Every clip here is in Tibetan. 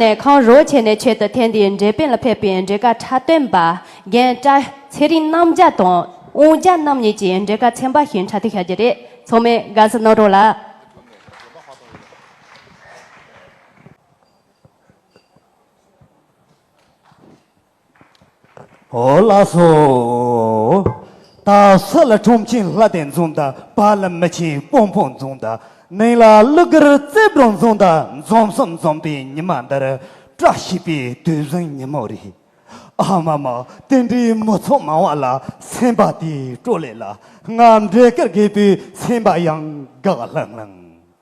གནས་ཁང་རོལ་ཆས་ནས་ཆེད་དུ་ཐེངས་འདིའི་འདྲེ་དཔོན་ལ་ཕེབས་པའི་འདྲེ་དགའ་ཁྲ་སྟོན་པ་རྒན་བཀྲ་ཚེ་རིང་རྣམ་རྒྱལ་དང་དབུང་རྒྱལ་རྣམ་གཉིས་ཀྱིས་འདྲེ་དགའ་ཚན་པ་ཞིག་འཕྲལ་དུ་ཤར་གྱི་རེད་ཚང་མས་དགའ་བསུ་གནང་རོགས་ལ། ཨོ་ལ་སོ། ད་ས་ལ་ཁྲོམ་ཆེན་ལྷ་ལྡན་རྫོང་དང་བ་ལ་མི་ཆེན་སྤོང་ཕོང་རྫོང་དང་ནེང་ལ་གླུ་གར་རྩེ་སྒྲོན་རྫོང་དང་རྫོང་གསུམ་འཛོམས་པའི་ཉི་མ་འདིར་བཀྲ་ཤིས་པའི་དུས་གཟིངས་ཉིན་མོ་རེད། ཨ་མ་མ་རྟེན་འབྲེལ་མི་ཚོགས་མང་བ་ལ་སེམས་པ་དེའི་སྤྲོ་ལེགས་ལ་ང་འབྲས་དཀར་རྒད་པོའི་སེམས་པ་ཡང་དགའ་ལྷང་ལྷང།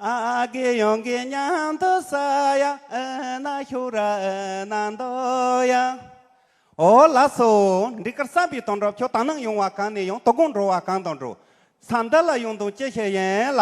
དགེ་ཡང་གི་མཉམ་དུ་ས་ཡ་ན་ཤོ་ར་ན་འདོ་ཡ། འོ་ལ་སོ། འདི་སྐར་བསམ་པའི་དོན་འགྲུབ་ཁྱོད་དག་སྣང་ཡོང་བ་གང་ནས་ཡོང་དོ་དགོང་འགྲོ་བ་གང་དང་འགྲོ། ས་འདི་ལ་ཡོང་དོན་ཅི་ཞིག་ཡིན་ལ།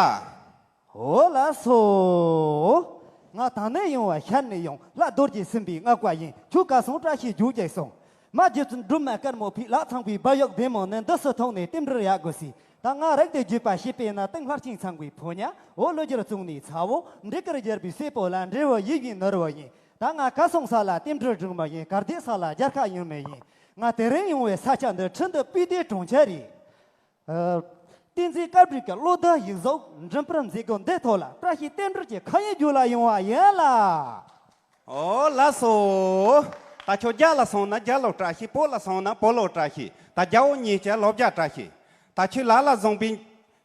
འོ་ལ་སོ། ང་དག་སྣང་ཡོང་བ་ཤར་ནས་ཡོང་ལྷ་རྡོར་གྱིས་ཟིན་པའི་སྔགས་པ་ཡིན་ཁྱོད་ག་སོང་བཀྲ་ཤིས་རྒྱུག་ཅེས་སོང། མ་རྒྱུད་འགྲུབ་མ་དཀར་མོ་ཕུད་ལགས་ཚངས་པའི་སྦ་གཡོག་བདེ་མོ་ནི་འདི་སུ་མཐོང་ནས་རྟེན་འབྲེལ་ཡག་དགོས་སྲིད་ད་སྔ་རགས་དེ་བརྒྱུད་པ་ཤེས་པས་ན་སྟེང་ལྷར་བྱིན་ཚངས་པའི་ཕོ་ཉའོ་གླུ་རྒྱུར་བཙུགས་ནས་ཚ་བོ་འབྲི་ཀར་སྦྱར་བའི་སྲས་པོ་ལ་འབྲས་བུ་ཡིད་བཞིན་ནོར་བུ་ཡིན། ད་སྔ་ཁ་སང་ས་ལ་ལྟེམ་འབྲུ་སྒྲུང་མ་ཡིན་གར་སྡེ་ས་ལ་སྦྱར་ཁ་ཡུངས་མེད་ཡིན། ང་དེ་རིང་ཡོང་བའི་ས་ཆ་འདི་ཁྲི་འདི་སྤུས་ལྡན་གྲོང་ཁྱེར་རེད། བསྟན་འཛིན་བཀའ་བརྒྱུད་ཀྱི་གླུ་དར་ཡིག་གཟུགས་འགྲིམ་པར་མཛད་སྒོ་འདི་ཐོག་ལ་བཀྲ་ཤིས་བསྟན་འགྲོར་གྱི་ཁ་ཡིག་བརྒྱུད་ལ་ཡོང་བ་ཡིན་ལགས། ཨོ་ལ་སོ། ད་ཁྱོད་རྒྱ་ལ་སོང་ན་རྒྱ་ལོ་བཀྲ་ཤིས་པོ་ལ་སོང་ན་པོ་ལོ་བཀྲ་ཤིས་ད་རྒྱ་བོ་གཉིས་ཀྱི་ལོ་བརྒྱ་བཀྲ་ཤིས། ད་ཁྱོད་ལ་ལ་བཟུང་པའི་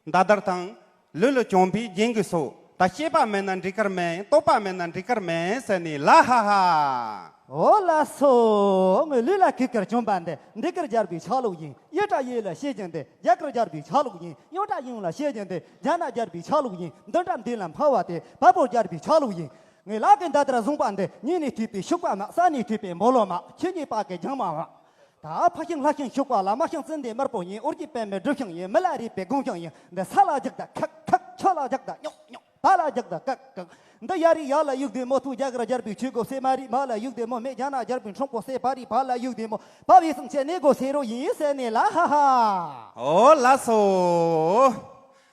མདའ་དར་དང། ལུས་ལ་གྱོན་པའི་རྒྱན་གོས་སོགས་ད་ཤེས་པ་མེད་ན་འགྲིག་གར་མེད་རྟོགས་པ་མེད་ན་འགྲིག་གར་མེད་ཟེར་ནས་ལ་ཧ་ཧ། ཨོ་ལ་སོ། ངའི་ལུས་ལ་གུས་གར་གྱོན་པ་འདི་འགྲིག་གར་སྦྱར་བའི་ཆ་ལུགས་ཡིན་གཡུ་བཀྲ་ཡིས་ལ་ཤེས་ཀྱི་འདི་རྒྱ་གར་སྦྱར་བའི་ཆ་ལུགས་ཡིན་གཡུང་བཀྲ་ཡིས་ལ་ཤེས་ཀྱི་འདི་རྒྱ་ནག་སྦྱར་བའི་ཆ་ལུགས་ཡིན་འདི་འགྲམ་འདི་ལ་འཕར་བ་དེ་བལ་པོར་སྦྱར་བའི་ཆ་ལུགས་ཡིན། ངའི་ལག་གི་འདི་ལྟར་བཟུང་བ་འདི་གཉིས་ནི་ཐོས་པས་ཞུགས་པ་ནགས་ས་ནས་ཐོས་པས་འབོ་ལོ་མ་ཁྱི་གཉིས་པ་གི་རྒྱང་མ་བ། ད་ཕ་ཤིང་ལྷ་ཤིང་ཞུགས་པ་ལ་མ་ཤིང་བཙུན་ཏེ་དམར་པོ་ཡིན་ཨོར་གྱི་པད་མའི་སྒྲུབ་ཤིང་ཡིན་མི་ལ་རས་པའི་དགུང་ཤིང་ཡིན་འདི་ས་ལ་འཇགས་ད་ཁག་ཁག་ཕྱོགས་ལ་འཇགས་ད་སྙོག་སྙོག་བར་ལ་འཇགས་ད་ཀག་ཀག་འདི་ཡ་རིགས་ཡར་ལ་གཡུག་དེ་མོ་ཐུག་རྒྱ་གར་སྦྱར་པའི་ཆོས་གོ་སའི་མ་རིགས་མར་ལ་གཡུག་དེ་མོ་སྨད་རྒྱ་ནག་སྦྱར་པའི་འཕྲང་གོ་སའི་བ་རིགས་བར་ལ་གཡུག་དེ་མོ་བ་བའི་སྲིང་བྱས་ནས་གོ་སའི་རོ་ཡིན་ཟེར་ནས་ལ་ཧ་ཧ། ཨོ་ལ་སོ།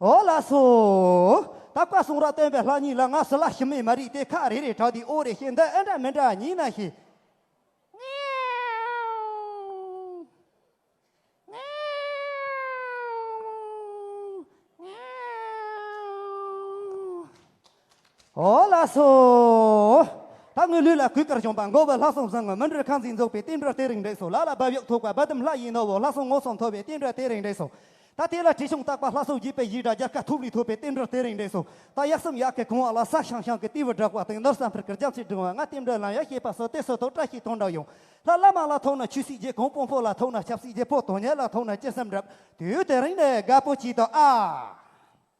འོ་ལ་སོ། ད་བཀའ་གསུང་རབ་སྟོན་པའི་ལྷ་གཉིས་ལ་ང་སུ་ལ་ཞི་མི་མ་རིག་སྟེ་ཁག་རེ་རེ་གྲགས་འདི་ཨོ་རེ་ཤེས་འདི་ཨེ་འདྲ་མི་འདྲ་གཉིས་ན་ཤེས། འོ་ལ་སོགས། ད་ངོས་ལུས་ལ་གུས་དཀར་གཞོང་པ་མགོ་བོ་ལྷ་སྲུང་བཟང་ངོ་མི་འགྲོའི་ཁང་རྩིག་རྫོགས་པའི་རྟེན་འབྲེལ་དེ་རིང་འགྲེགས་སོ་ལ་ལ་འབབ་གཡོག་ཐུག་པ་སྦལ་དུམ་ལྷ་ཡིན་ནོ་བོ་ལྷ་སྲུང་ངོ་སྲུང་ཐོབ་པའི་རྟེན་འབྲེལ་དེ་རིང་འགྲེགས་སོ། ད་དེ་ལ་དྲི་བྱུང་བཏགས་པ་ལྷ་སྲུང་བརྒྱུད་པའི་ཡིག་འདྲ་རྒྱར་ཁ་ཐུབ་ལུས་ཐོབ་པའི་རྟེན་འབྲེལ་དེ་རིང་འགྲེགས་སོ། ད་གཡག་སྲུང་གཡག་གི་གོང་བ་ལ་ས་ཤང་ཤང་གི་རྟིང་བུ་བསྒྲགས་པ་དེང་ནོར་བསམ་ཕུར་གྱི་རྒྱང་ཆིག་སྒྲིལ་བ་ལྔ་རྟེན་འབྲེལ་ལམ་ཡར་ཤེས་པ་སོ་སྟེ་སོ་ཐོག་བཀྲ་ཤིས་སྟོང་འདྲ་ཡོང། ལྷ་བླ་མ་ལ་ཐོག་ན་ཆོས་སྲིད་རྗེ་གོང་དཔོན་པོ་ལ་ཐོག་ན་ཆབ་སྲིད་རྗེ་པོ་དོན་གཉེར་ལ་ཐོག་ན་སྤྱི་སེམས་རབ་དུས་དེ་རིང་ནས་དགའ་པོ་བྱེད་དོ་ཨ།